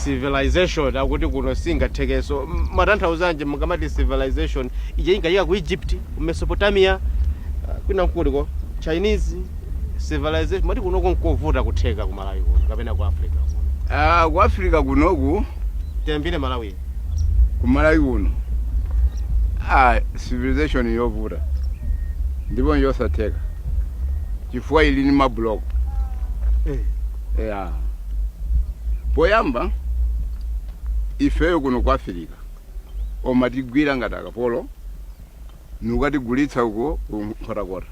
civilization akuti kuno singathekeso M- matanthauzanji mukamati civilization ija ingatheka ku egypt ku mesopotamia ah, kwina nkuliko chinese civilization mati kunoko nkovuta kutheka ku malawi kuno kapena ku africa kuno Ah, ku africa kunoku tiyambire malawi ku malawi kuno ah, civilization yovuta ndipo njosatheka chifukwa ili ni mabuloko ya poyamba ifeyo kuno ku africa omatigwira ngati akapolo nukatigulitsa uko nkhotakota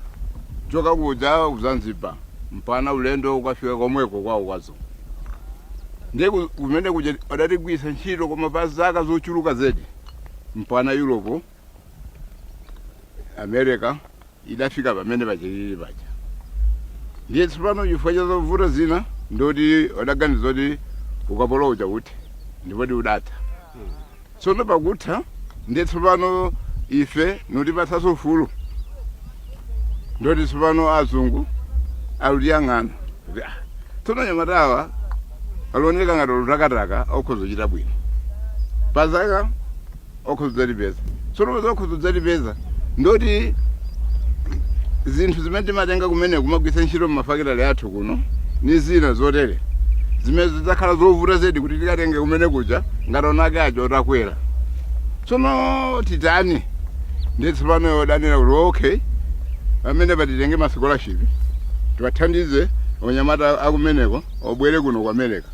choka kuja ku zanzibar mpana ulendo ukafika komweko kwawo kwazo ndiye ku- kumene kuja adatigwitsa ntchito koma pa zaka zochuluka zedi mpana europe america idafika pamene pachilili paja ndiye tsopano chifukwa cha zovuta zina ndoti odaganiza zoti ukapolo uja uthe ndipoti udatha tsono pakutha ndiye tsopano ife notipatsaso ufulu ndoti tsopano azungu alutiyang'ana kuti ah, tsono nyamatawa alioneka ngati olutakataka okhoza kuchita bwino pazaka okhoza kudzatipeza tsono popeza okhoza kudzatipeza ndoti zinthu zimene timatenga kumene kumagwitsa ntchito mmafakitale athu kuno ni zina zotere zimene zidzakhala zovuta zedi kuti tikatenge kumene kuja ngati onake aja otakwera tsono titani ndiye tsopano yodanira kuti okay amene patitenge ma scholarship tiwathandize onyamata akumeneko obwere kuno ku america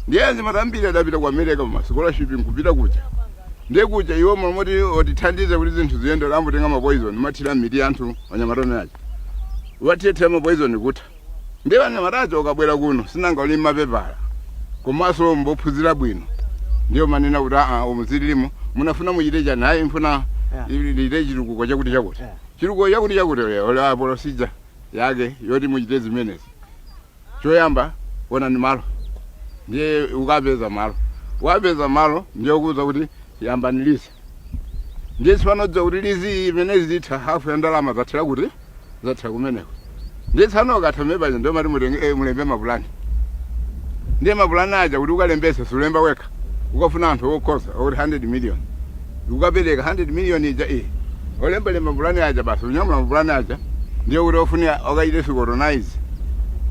ndiye anyamata ambiri adapita ku america ma scholarship nkupita kuja ndiye kuja iwo mamoti otithandiza kuti zinthu ziyende ambotenga ma poison mathira mitu anthu anyamata omeaja wathira ma poison kutha ndiye anyamata aja okabwera kuno sinanga uli mapepala komanso mbophunzira bwino ndiye omanena kuti aa umuzililimo munafuna muchite chani ayi mfuna Yeah. lite chitukuko chakuti chakuti Yeah. chitukuko chakuti chakuti ola procedure yake yoti muchite zimenezi choyamba onani malo ndiye ukapeza malo ukapeza malo ndiye ukuwuza kuti yambani lizi ndiye tsopano dziwa kuti lizi imene izitha hafu ya ndalama zathera kuti zathera kumeneko ndiye tsopano ukatha mmenepaja ndiye omati mutenge eh, mulembe mapulani ndiye mapulani aja kuti ukalembese sulemba wekha ukafuna anthu okhoza oti 100 million ukapereka 100 million ija iyi olembalemba mapulani aja basi unyamula mapulani aja ndiye kuti ofunika okaite scrutinize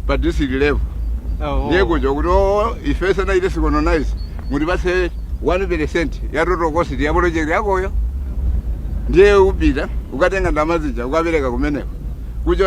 pa district level ndiye kuja kuti oo ife tisanaite scrutinize mutipase 1 percent ya total cost ya project yakoyo ndiye upita ukatenga ndamazija ukapereka kumeneko kuja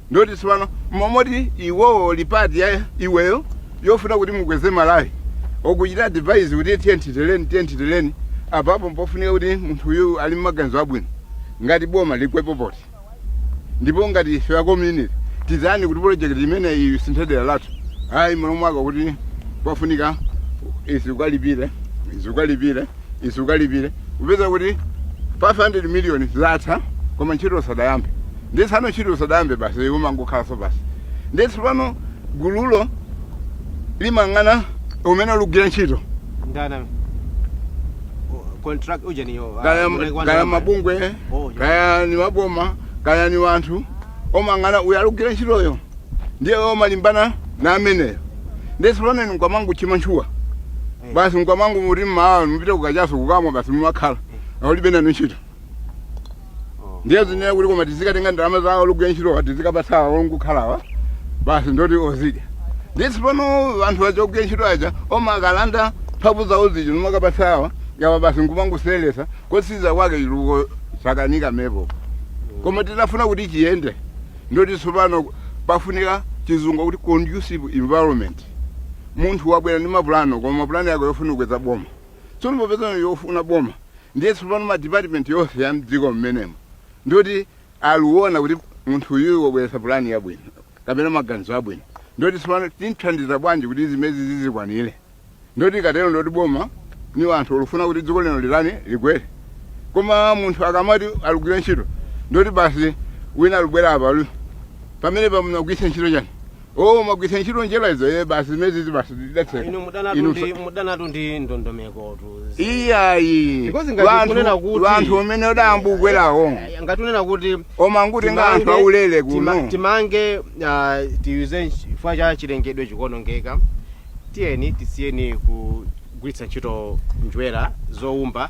ndoti tsopano mmalo moti iwowo lipati ya iweyo yofuna kuti mukweze malawi okuchita advise kuti tiyeni titereni tiyeni titereni apapo mpofunika kuti munthu uyu ali mmaganizo abwino ngati boma ligwepo poti ndipo ngati ife akomuniti tizani kuti projekti imeneyi isinthe dera lathu ayi mmalo mwake kuti pafunika izi ukalipire izi ukalipire izi ukalipire kupeza kuti 500 miliyoni zatha koma ntchito sadayambe Ndiye tsopano ntchito usadayambe basi iwe umangokhalanso basi. Ndiye tsopano gululo limang'ana umene olugwira ntchito. Ndani amene? O- Contract uja ni yo. ah, Kaya mwenye kwanza kaya ambaye. mabungwe, Oh, yeah. kaya ni waboma, kaya ni wanthu omang'ana uyo alugwira ntchitoyo. Ndiye iwe umalimbana na ameneyo. Ndiye tsopano inu nkumangochita mantchuwa. Eh. Basi nkumangoti mmawa mupite kukachaso kukamwa basi mumakhala. Aulibe nanu ntchito. ndiye zinena kuti koma tizikatenga ndalama zawo olugwira ntchitowa tizikapatsa awo ongokhalawa basi ndoti ozidya ndiye tsopano anthu aja ogwira ntchito aja omakalanda mphamvu zawo zija nomakapatsa awa yawa basi nkumangoseweretsa kotsiriza kwake chitukuko chakanika pamenepo koma titafuna kuti chiyende ndoti tsopano pafunika chizungu kuti conducive environment munthu wabwera ndi mapulano koma mapulano yake yofuna kukweza boma Tsono popeza ni yofuna boma ndiye tsopano ma department yonse ya mdziko mmenemo ndioti aliwona kuti munthu uyuyu wabweretsa pulani yabwino kapena maganizo abwino ndioti tsopano timthandiza bwanji kuti zimezi zizikwanire ndioti ikatero ndioti boma ni wanthu olufuna kuti dziko lino litani likwere koma munthu akamati alugwire ntchito ndioti basi wina alubwera apa alu- pamenepa munagwiritsa ntchito chani Oh, mwagwiritsa ntchito njwera izo ye basi zimezi basi inu zidatseka. mudanatu Inu ndi mudanatu ndi ndondomekotu Iyayi. Because ngati Vanthu- kunena kuti- wanthu umene adayamba kubwerawo. Aya, ngati unena kuti kumangotenga anthu timange- aulele tima- kuno. timange ah, tiuze nch- chifukwa cha chilengedwe chikuonongeka tiyeni tisiyeni kugwiritsa ntchito njwera zoumba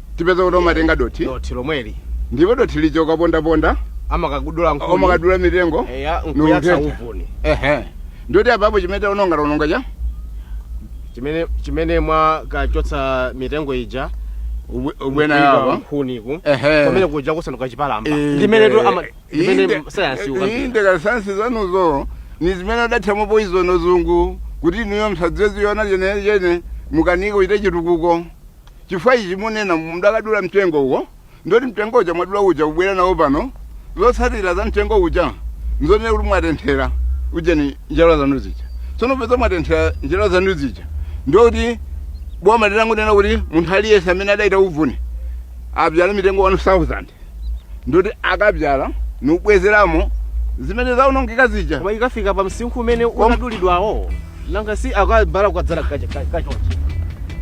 tipeza kuti omatenga dothi dothi lomweli ndipo dothi lija ukapondaponda amakadula nkhuni omakadula mitengo eya nkuyatsa nukuthetsa. uvuni ehe ndiyoti apapo chimene taononga taononga cha chimene chimene mwakachotsa mitengo ija ubwe- ubwera kuiba yawo nkhuniku Ehe. pamene kuja kusanduka chipalamba Inde. ndimene tu ama ndimene Inde- sayansi inde ukapita ka sayansi zanuzo ni zimene adathiramo poizono azungu kuti inuyo msadzaziona chenechene mukanike kuchita chitukuko Chifukwa ichi munena, mudakadula mtengo uwo, ndoti mtengo uja mwadula uja kubwera nawo pano, zotsatira za mtengo uja nzonena kuti mwatenthera ujeni njerwa zanu zija. Tsono popeza mwatenthera njerwa zanu zija, ndiye kuti boma litangonena kuti munthu aliyense amene adayita uvuni abyala mitengo 1000 ndoti akabyala nkubwezeramo zimene zaonongeka zija Koma ikafika pa msinkhu umene unadulidwawo. nanga si akabyala kukadzala kacha kacha kacha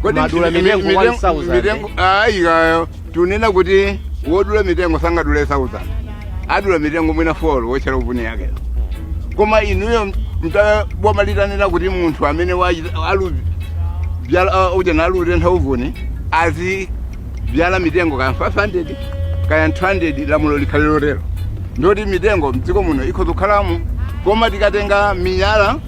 Kodi mumadula mi- mitengo mi- 1,000. mitengo- ayi kayo tunena kuti wodula mitengo sangadule 1000 adula mitengo mwina 4 wotchera uvuni yake koma inuyo boma litanena kuti munthu amene wachita- alu byala ah, uja nalutentha uvuni azibyala mitengo kaya 500 kaya 200 lamulo likhale lotero ndoti mitengo mdziko muno ikhoza kukhalamo koma tikatenga miyala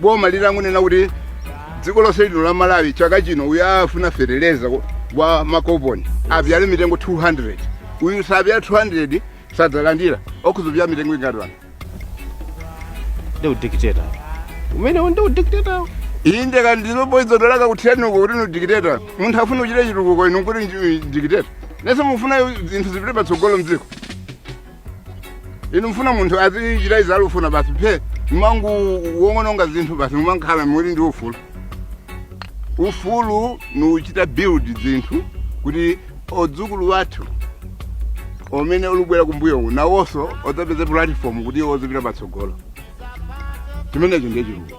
boma litangonena kuti dziko lonse lino la malawi chaka chino uyu afuna feteleza wa makoponi abyale mitengo 200 uyu sabyala 200 sadzalandira okudzabyala mitengo ingati wanu ndi udikiteta umenewo ndi udikiteta inde kandi ndilo poizo dolaka kuthiraniko kuti ndi dikiteta munthu afuna kuchita chitukuko inu kuti dikiteta nonse mufuna zinthu zipite patsogolo mdziko inu mfuna munthu azichita izi alufuna basi phe mumangoononga zinthu basi mumankhala muli ndi ufulu ufulu ni kuchita build zinthu kuti odzukulu wathu omene olubwera kumbuyo uku nawonso odzapeze platform kuti iwo ozipita patsogolo chimenecho ndiye chitukuko